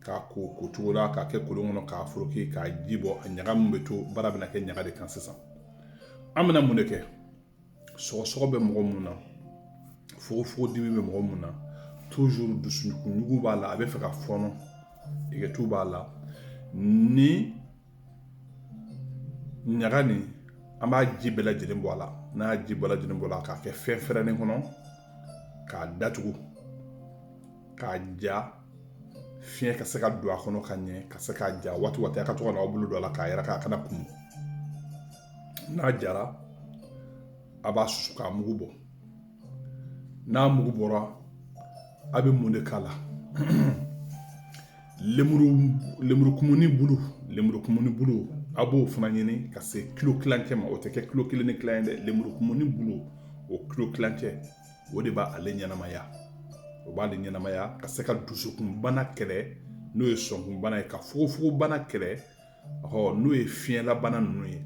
k'a ko ko cogo la k'a kɛ kolon kɔnɔ k'a foroki k'a ji bɔ a ɲaga min bɛ to baara bɛna kɛ ɲaga de kan sisan an bɛna mun de kɛ sɔgɔsɔgɔ bɛ mɔgɔ mun na fogofogo dimi bɛ mɔgɔ mun na toujours dusukunɲugu b'a la a bɛ fɛ ka fɔɔnɔ yegentu b'a la ni ɲaga nin an b'a ji bɛɛ lajɛlen bɔ a la n'a y'a ji bɛɛ lajɛlen bɔ a la k'a kɛ fɛn fɛrɛlen kɔnɔ k'a datugu k'a ja fiɲɛ ka se ka don a kɔnɔ ka ɲɛ ka se k'a ja waati waati a ka to ka n'aw bolo don a la k'a yɛrɛkɛ a kana kumu n'a jara a b'a susu k'a mugu bɔ n'a mugu bɔra a bɛ mun de k'a la lemurukumuni bulu lemurukumuni bulu a b'o fana ɲini ka se kilo kilancɛ ma o tɛ kɛ kilo kelen ni kilan ye dɛ lemurukumuni bulu o kilo kilancɛ o de b'ale ɲɛnamaya o b'ale ɲɛnamaya ka se ka dusukunbana kɛlɛ n'o ye sɔnkunbana ye ka fogofogobana kɛlɛ ɔ n'o ye fiɲɛlabana ninnu ye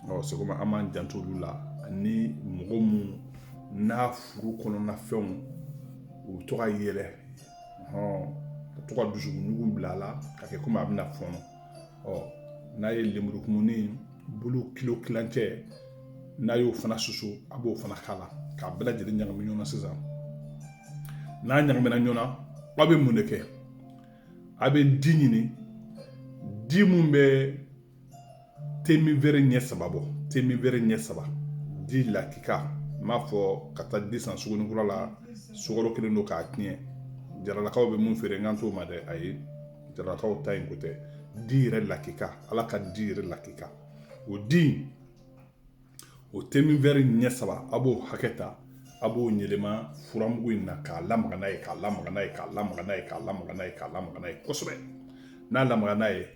ɔ sɔgɔma an b'an janto olu la ani mɔgɔ mun n'a furu kɔnɔna fɛnw u bɛ to ka yɛlɛ ka to ka dusukunɲugu bila a la ka kɛ komi a bɛna fɔnɔ ɔ n'a ye lemurukumuni bulu kilo kilancɛ n'a y'o fana susu a b'o fana k'a la k'a bɛɛ lajɛlen ɲagami ɲɔgɔn na sisan n'a ɲagamina ɲɔgɔn na aw bɛ mun de kɛ a bɛ di ɲini di mun bɛ teminvɛri ɲɛ saba bɔ teminvɛri ɲɛ saba di lakika n m'a fɔ ka taa di san sugunikura la sukaro kɛlen don k'a tiɲɛ jaralakaw bɛ mun feere n kan t'o ma dɛ ayi jaralakaw ta in ko tɛ di yɛrɛ lakika ala ka di yɛrɛ lakika o di O teminvɛri ɲɛ saba a b'o hakɛ ta a b'o yɛlɛma furamugu in na k'a lamaga n'a ye k'a lamaga n'a ye k'a lamaga n'a ye k'a lamaga n'a ye k'a lamaga n'a ye kosɛbɛ n'a lamaga n'a ye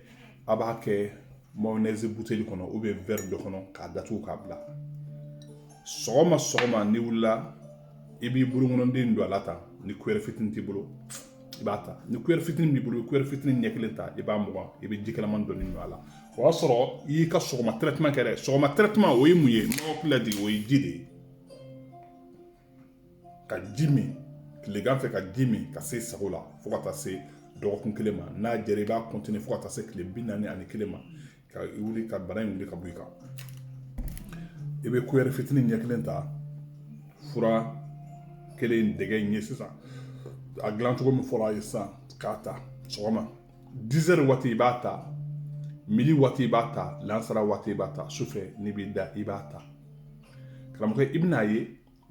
a b'a kɛ mayonɛzi buteli kɔnɔ ou bien vɛri dɔ kɔnɔ k'a datugu k'a bila sɔgɔma sɔgɔma n'i wulila i b'i bolokɔnɔden don a la tan ni kuyɛri fitinin t'i bolo i b'a ta ni kuyɛri fitinin b'i bolo kuyɛri fitinin ɲɛ kelen ta i b'a mugan i bɛ ji kalaman dɔɔni don a la o y'a sɔrɔ i y'i ka sɔgɔma tɛrɛtiman kɛ dɛ sɔgɔma tɛrɛtiman o ye mun ye nɔgɔkolan de o ye ji de ye ka ji min tilegan fɛ ka ji min ka se i sago la fo ka taa se dɔgɔkun kelen ma n'a jɛra i b'a kɔntini fo ka taa se tile bi naani ani kelen ma ka wuli ka bana in wuli ka bɔ i kan i bɛ kuyɛri fitinin ɲɛ kelen ta fura kelen dɛgɛ in ye sisan a dilan cogo min fɔra a ye sisan k'a ta sɔgɔma dizɛri waati i b'a ta midi waati i b'a ta lansara waati i b'a ta sufɛ n'i b'i da i b'a ta karamɔgɔ i bɛn'a ye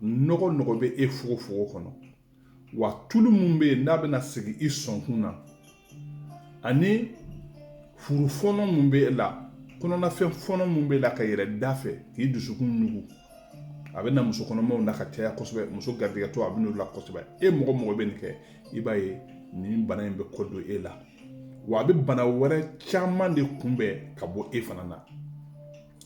nɔgɔ nɔgɔ bɛ e fogofogo kɔnɔ wa tulu min bɛ yen n'a bɛna sigi i sɔnkun na ani furu fɔnɔ min bɛ e la kɔnɔnafɛn fɔnɔ min bɛ e la ka yɛlɛ da fɛ k'i dusukun ɲugu a bɛ na muso kɔnɔmaw na ka caya kosɛbɛ muso garijɛgɛtɔ a bɛ n'o la kosɛbɛ e mɔgɔ mɔgɔ bɛ nin kɛ i b'a ye nin bana in bɛ kɔ don e la wa a bɛ bana wɛrɛ caman de kunbɛn ka bɔ e fana na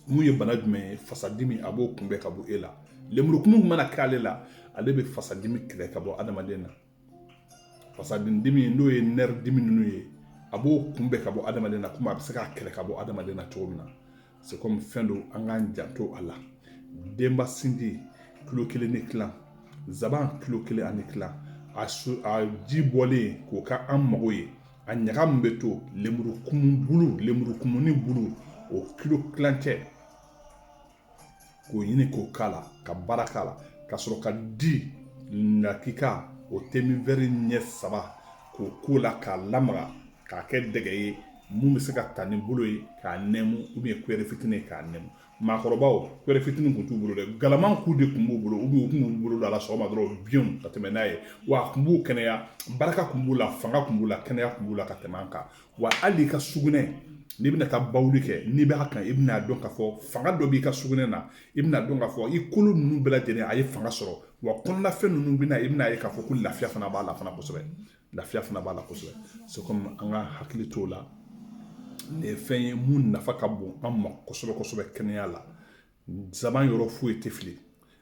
mun ye bana jumɛn ye fasadimi a b'o kunbɛn ka bɔ e la lemurukumu mana kɛ ale la ale bɛ fasadimi kɛlɛ ka bɔ adamaden na fasadimi n'o ye nerf dimi ninnu ye a b'o kunbɛn ka bɔ adamaden na komi a bɛ se k'a kɛlɛ ka bɔ adamaden na cogo min na c'est comme fɛn don an k'an janto a la denba sinji kilo kelen ni kilan zaban kilo kelen ani kilan a ji bɔlen k'o ka an mago ye a ɲaga min bɛ to lemurukumu bulu lemurukumuni bulu o kilo kilancɛ k'o ɲini k'o k'a la ka baara k'a la ka sɔrɔ ka di lakika o temivɛri ɲɛ saba k'o k'o la k'a lamaga k'a kɛ dɛgɛ ye mun bɛ se ka ta ni bolo ye k'a nɛmu ou bien cuillère fitini ye k'a nɛmu maakɔrɔbaw cuillère fitini kun t'u bolo dɛ galaman ku de kun b'u bolo ou bien u kun b'u bolo don a la sɔgɔma dɔrɔn biɲɛw ka tɛmɛ n'a ye wa a kun b'u kɛnɛya barika kun b'u la fanga kun b'u la kɛnɛya kun b'u la ka tɛmɛ an kan wa hali i ka sugunɛ n'i bɛna taa bawuli kɛ n'i b'a kan i bɛna dɔn k'a fɔ fanga dɔ b'i ka sugunɛ na i bɛna dɔn k'a fɔ i kolo ninnu bɛɛ lajɛlen a ye fanga sɔrɔ wa kɔnɔnafɛn ninnu bɛna i bɛna ye k'a fɔ ko lafiya fana b'a la fana kosɛbɛ lafiya fana b'a la kosɛbɛ c'est comme an ka hakili t'o la nin ye fɛn ye mun nafa ka bon an ma kosɛbɛ kosɛbɛ kɛnɛya la Zaban yɔrɔ foyi tɛ fili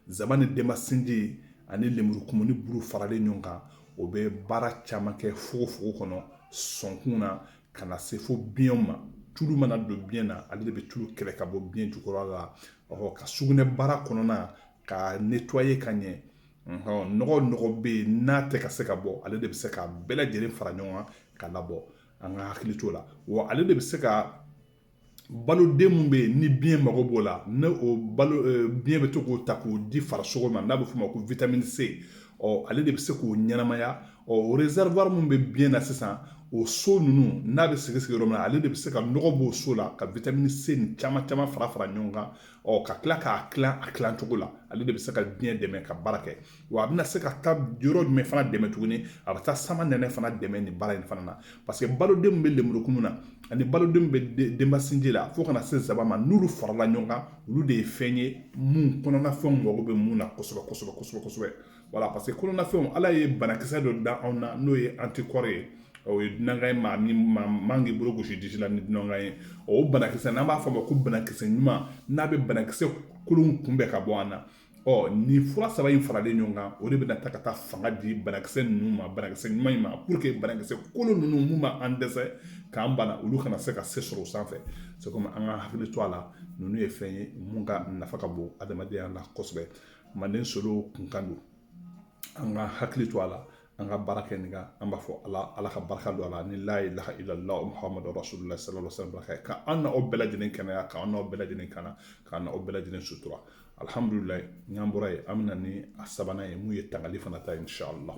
zaban ni denba sinji ani lemurukumuni bulu faralen ɲɔgɔn kan o bɛ baara caman kɛ fogofogo kɔnɔ sɔnkun na ka na se fo biɲɛ ma tulu mana don biɲɛ na ale de bɛ tulu kɛlɛ ka bɔ biɲɛ jukɔrɔ la ɔ ka sugunɛ baara kɔnɔna ka nettoyer ka ɲɛ nɔgɔ nɔgɔ bɛ yen n'a tɛ ka se ka bɔ ale de bɛ se ka bɛɛ lajɛlen fara ɲɔgɔn kan ka labɔ an ka hakili t'o la wa ale de bɛ se ka baloden min bɛ yen ni biɲɛ mago b'o la ne o balo eh, biɲɛ bɛ to k'o ta k'o di farisogo ma n'a bɛ f'o ma ko vitamini c ɔ ale de bɛ se k'o ɲɛnamaya ɔ o réservoir min bɛ biɲɛ na sisan o so ninnu n'a bɛ sigi sigi yɔrɔ min na ale de bɛ se ka nɔgɔ b'o so la ka vitamini c ni caman caman fara fara ɲɔgɔn kan ɔ ka tila k'a tilan a tilan cogo la ale de bɛ se ka biɲɛ dɛmɛ ka baara kɛ Wa a bɛna se ka taa yɔrɔ jumɛn fana dɛmɛ tuguni a bɛ taa samanɛnɛ fana dɛmɛ nin baara in fana na parce que baloden min bɛ lemurukumu na ani baloden min bɛ denba sinji la fo ka na se zaban ma n'olu farala ɲɔgɔn kan olu de ye fɛn ye minnu kɔnɔnafɛnw mago bɛ mun na kosɛbɛ kosɛbɛ kosɛbɛ kosɛbɛ voilà parce que kɔnɔnafɛnw ala ye banakisɛ dɔ da anw na n'o ye anticorps ye o ye dunankan ye maa min maa man k'i bolo gosi disi la ni dunankan ye o banakisɛ n'an b'a fɔ o ma ko banakisɛ ɲuman n'a bɛ banakisɛ kolon kunbɛn ka bɔ an na ɔ nin fura saba in faralen ɲɔgɔn kan o de bɛna ta ka taa fanga di banakisɛ ninnu ma banakisɛ ɲuman in ma pour que banakisɛ kolon ninnu mun b'an dɛsɛ k'an bana olu kana se ka se sɔrɔ o sanfɛ c'est comme an ka hakili to a la ninnu ye fɛn ye mun ka nafa ka bon adamadenya la kosɛbɛ manden solo kunkan don an ka hakili to a la an ka baara kɛ nin kan an b'a fɔ ala ka barika don a la ni la ilaha illallah muhammadu rasulullah sallallahu alaihi wasallam ka an n'aw bɛɛ lajɛlen kɛnɛya ka an n'aw bɛɛ lajɛlen kana ka an n'aw bɛɛ lajɛlen sutura alhamdulillah n'an bɔra yen an bɛ na ni a sabanan ye mun ye tangali fana ta inshallah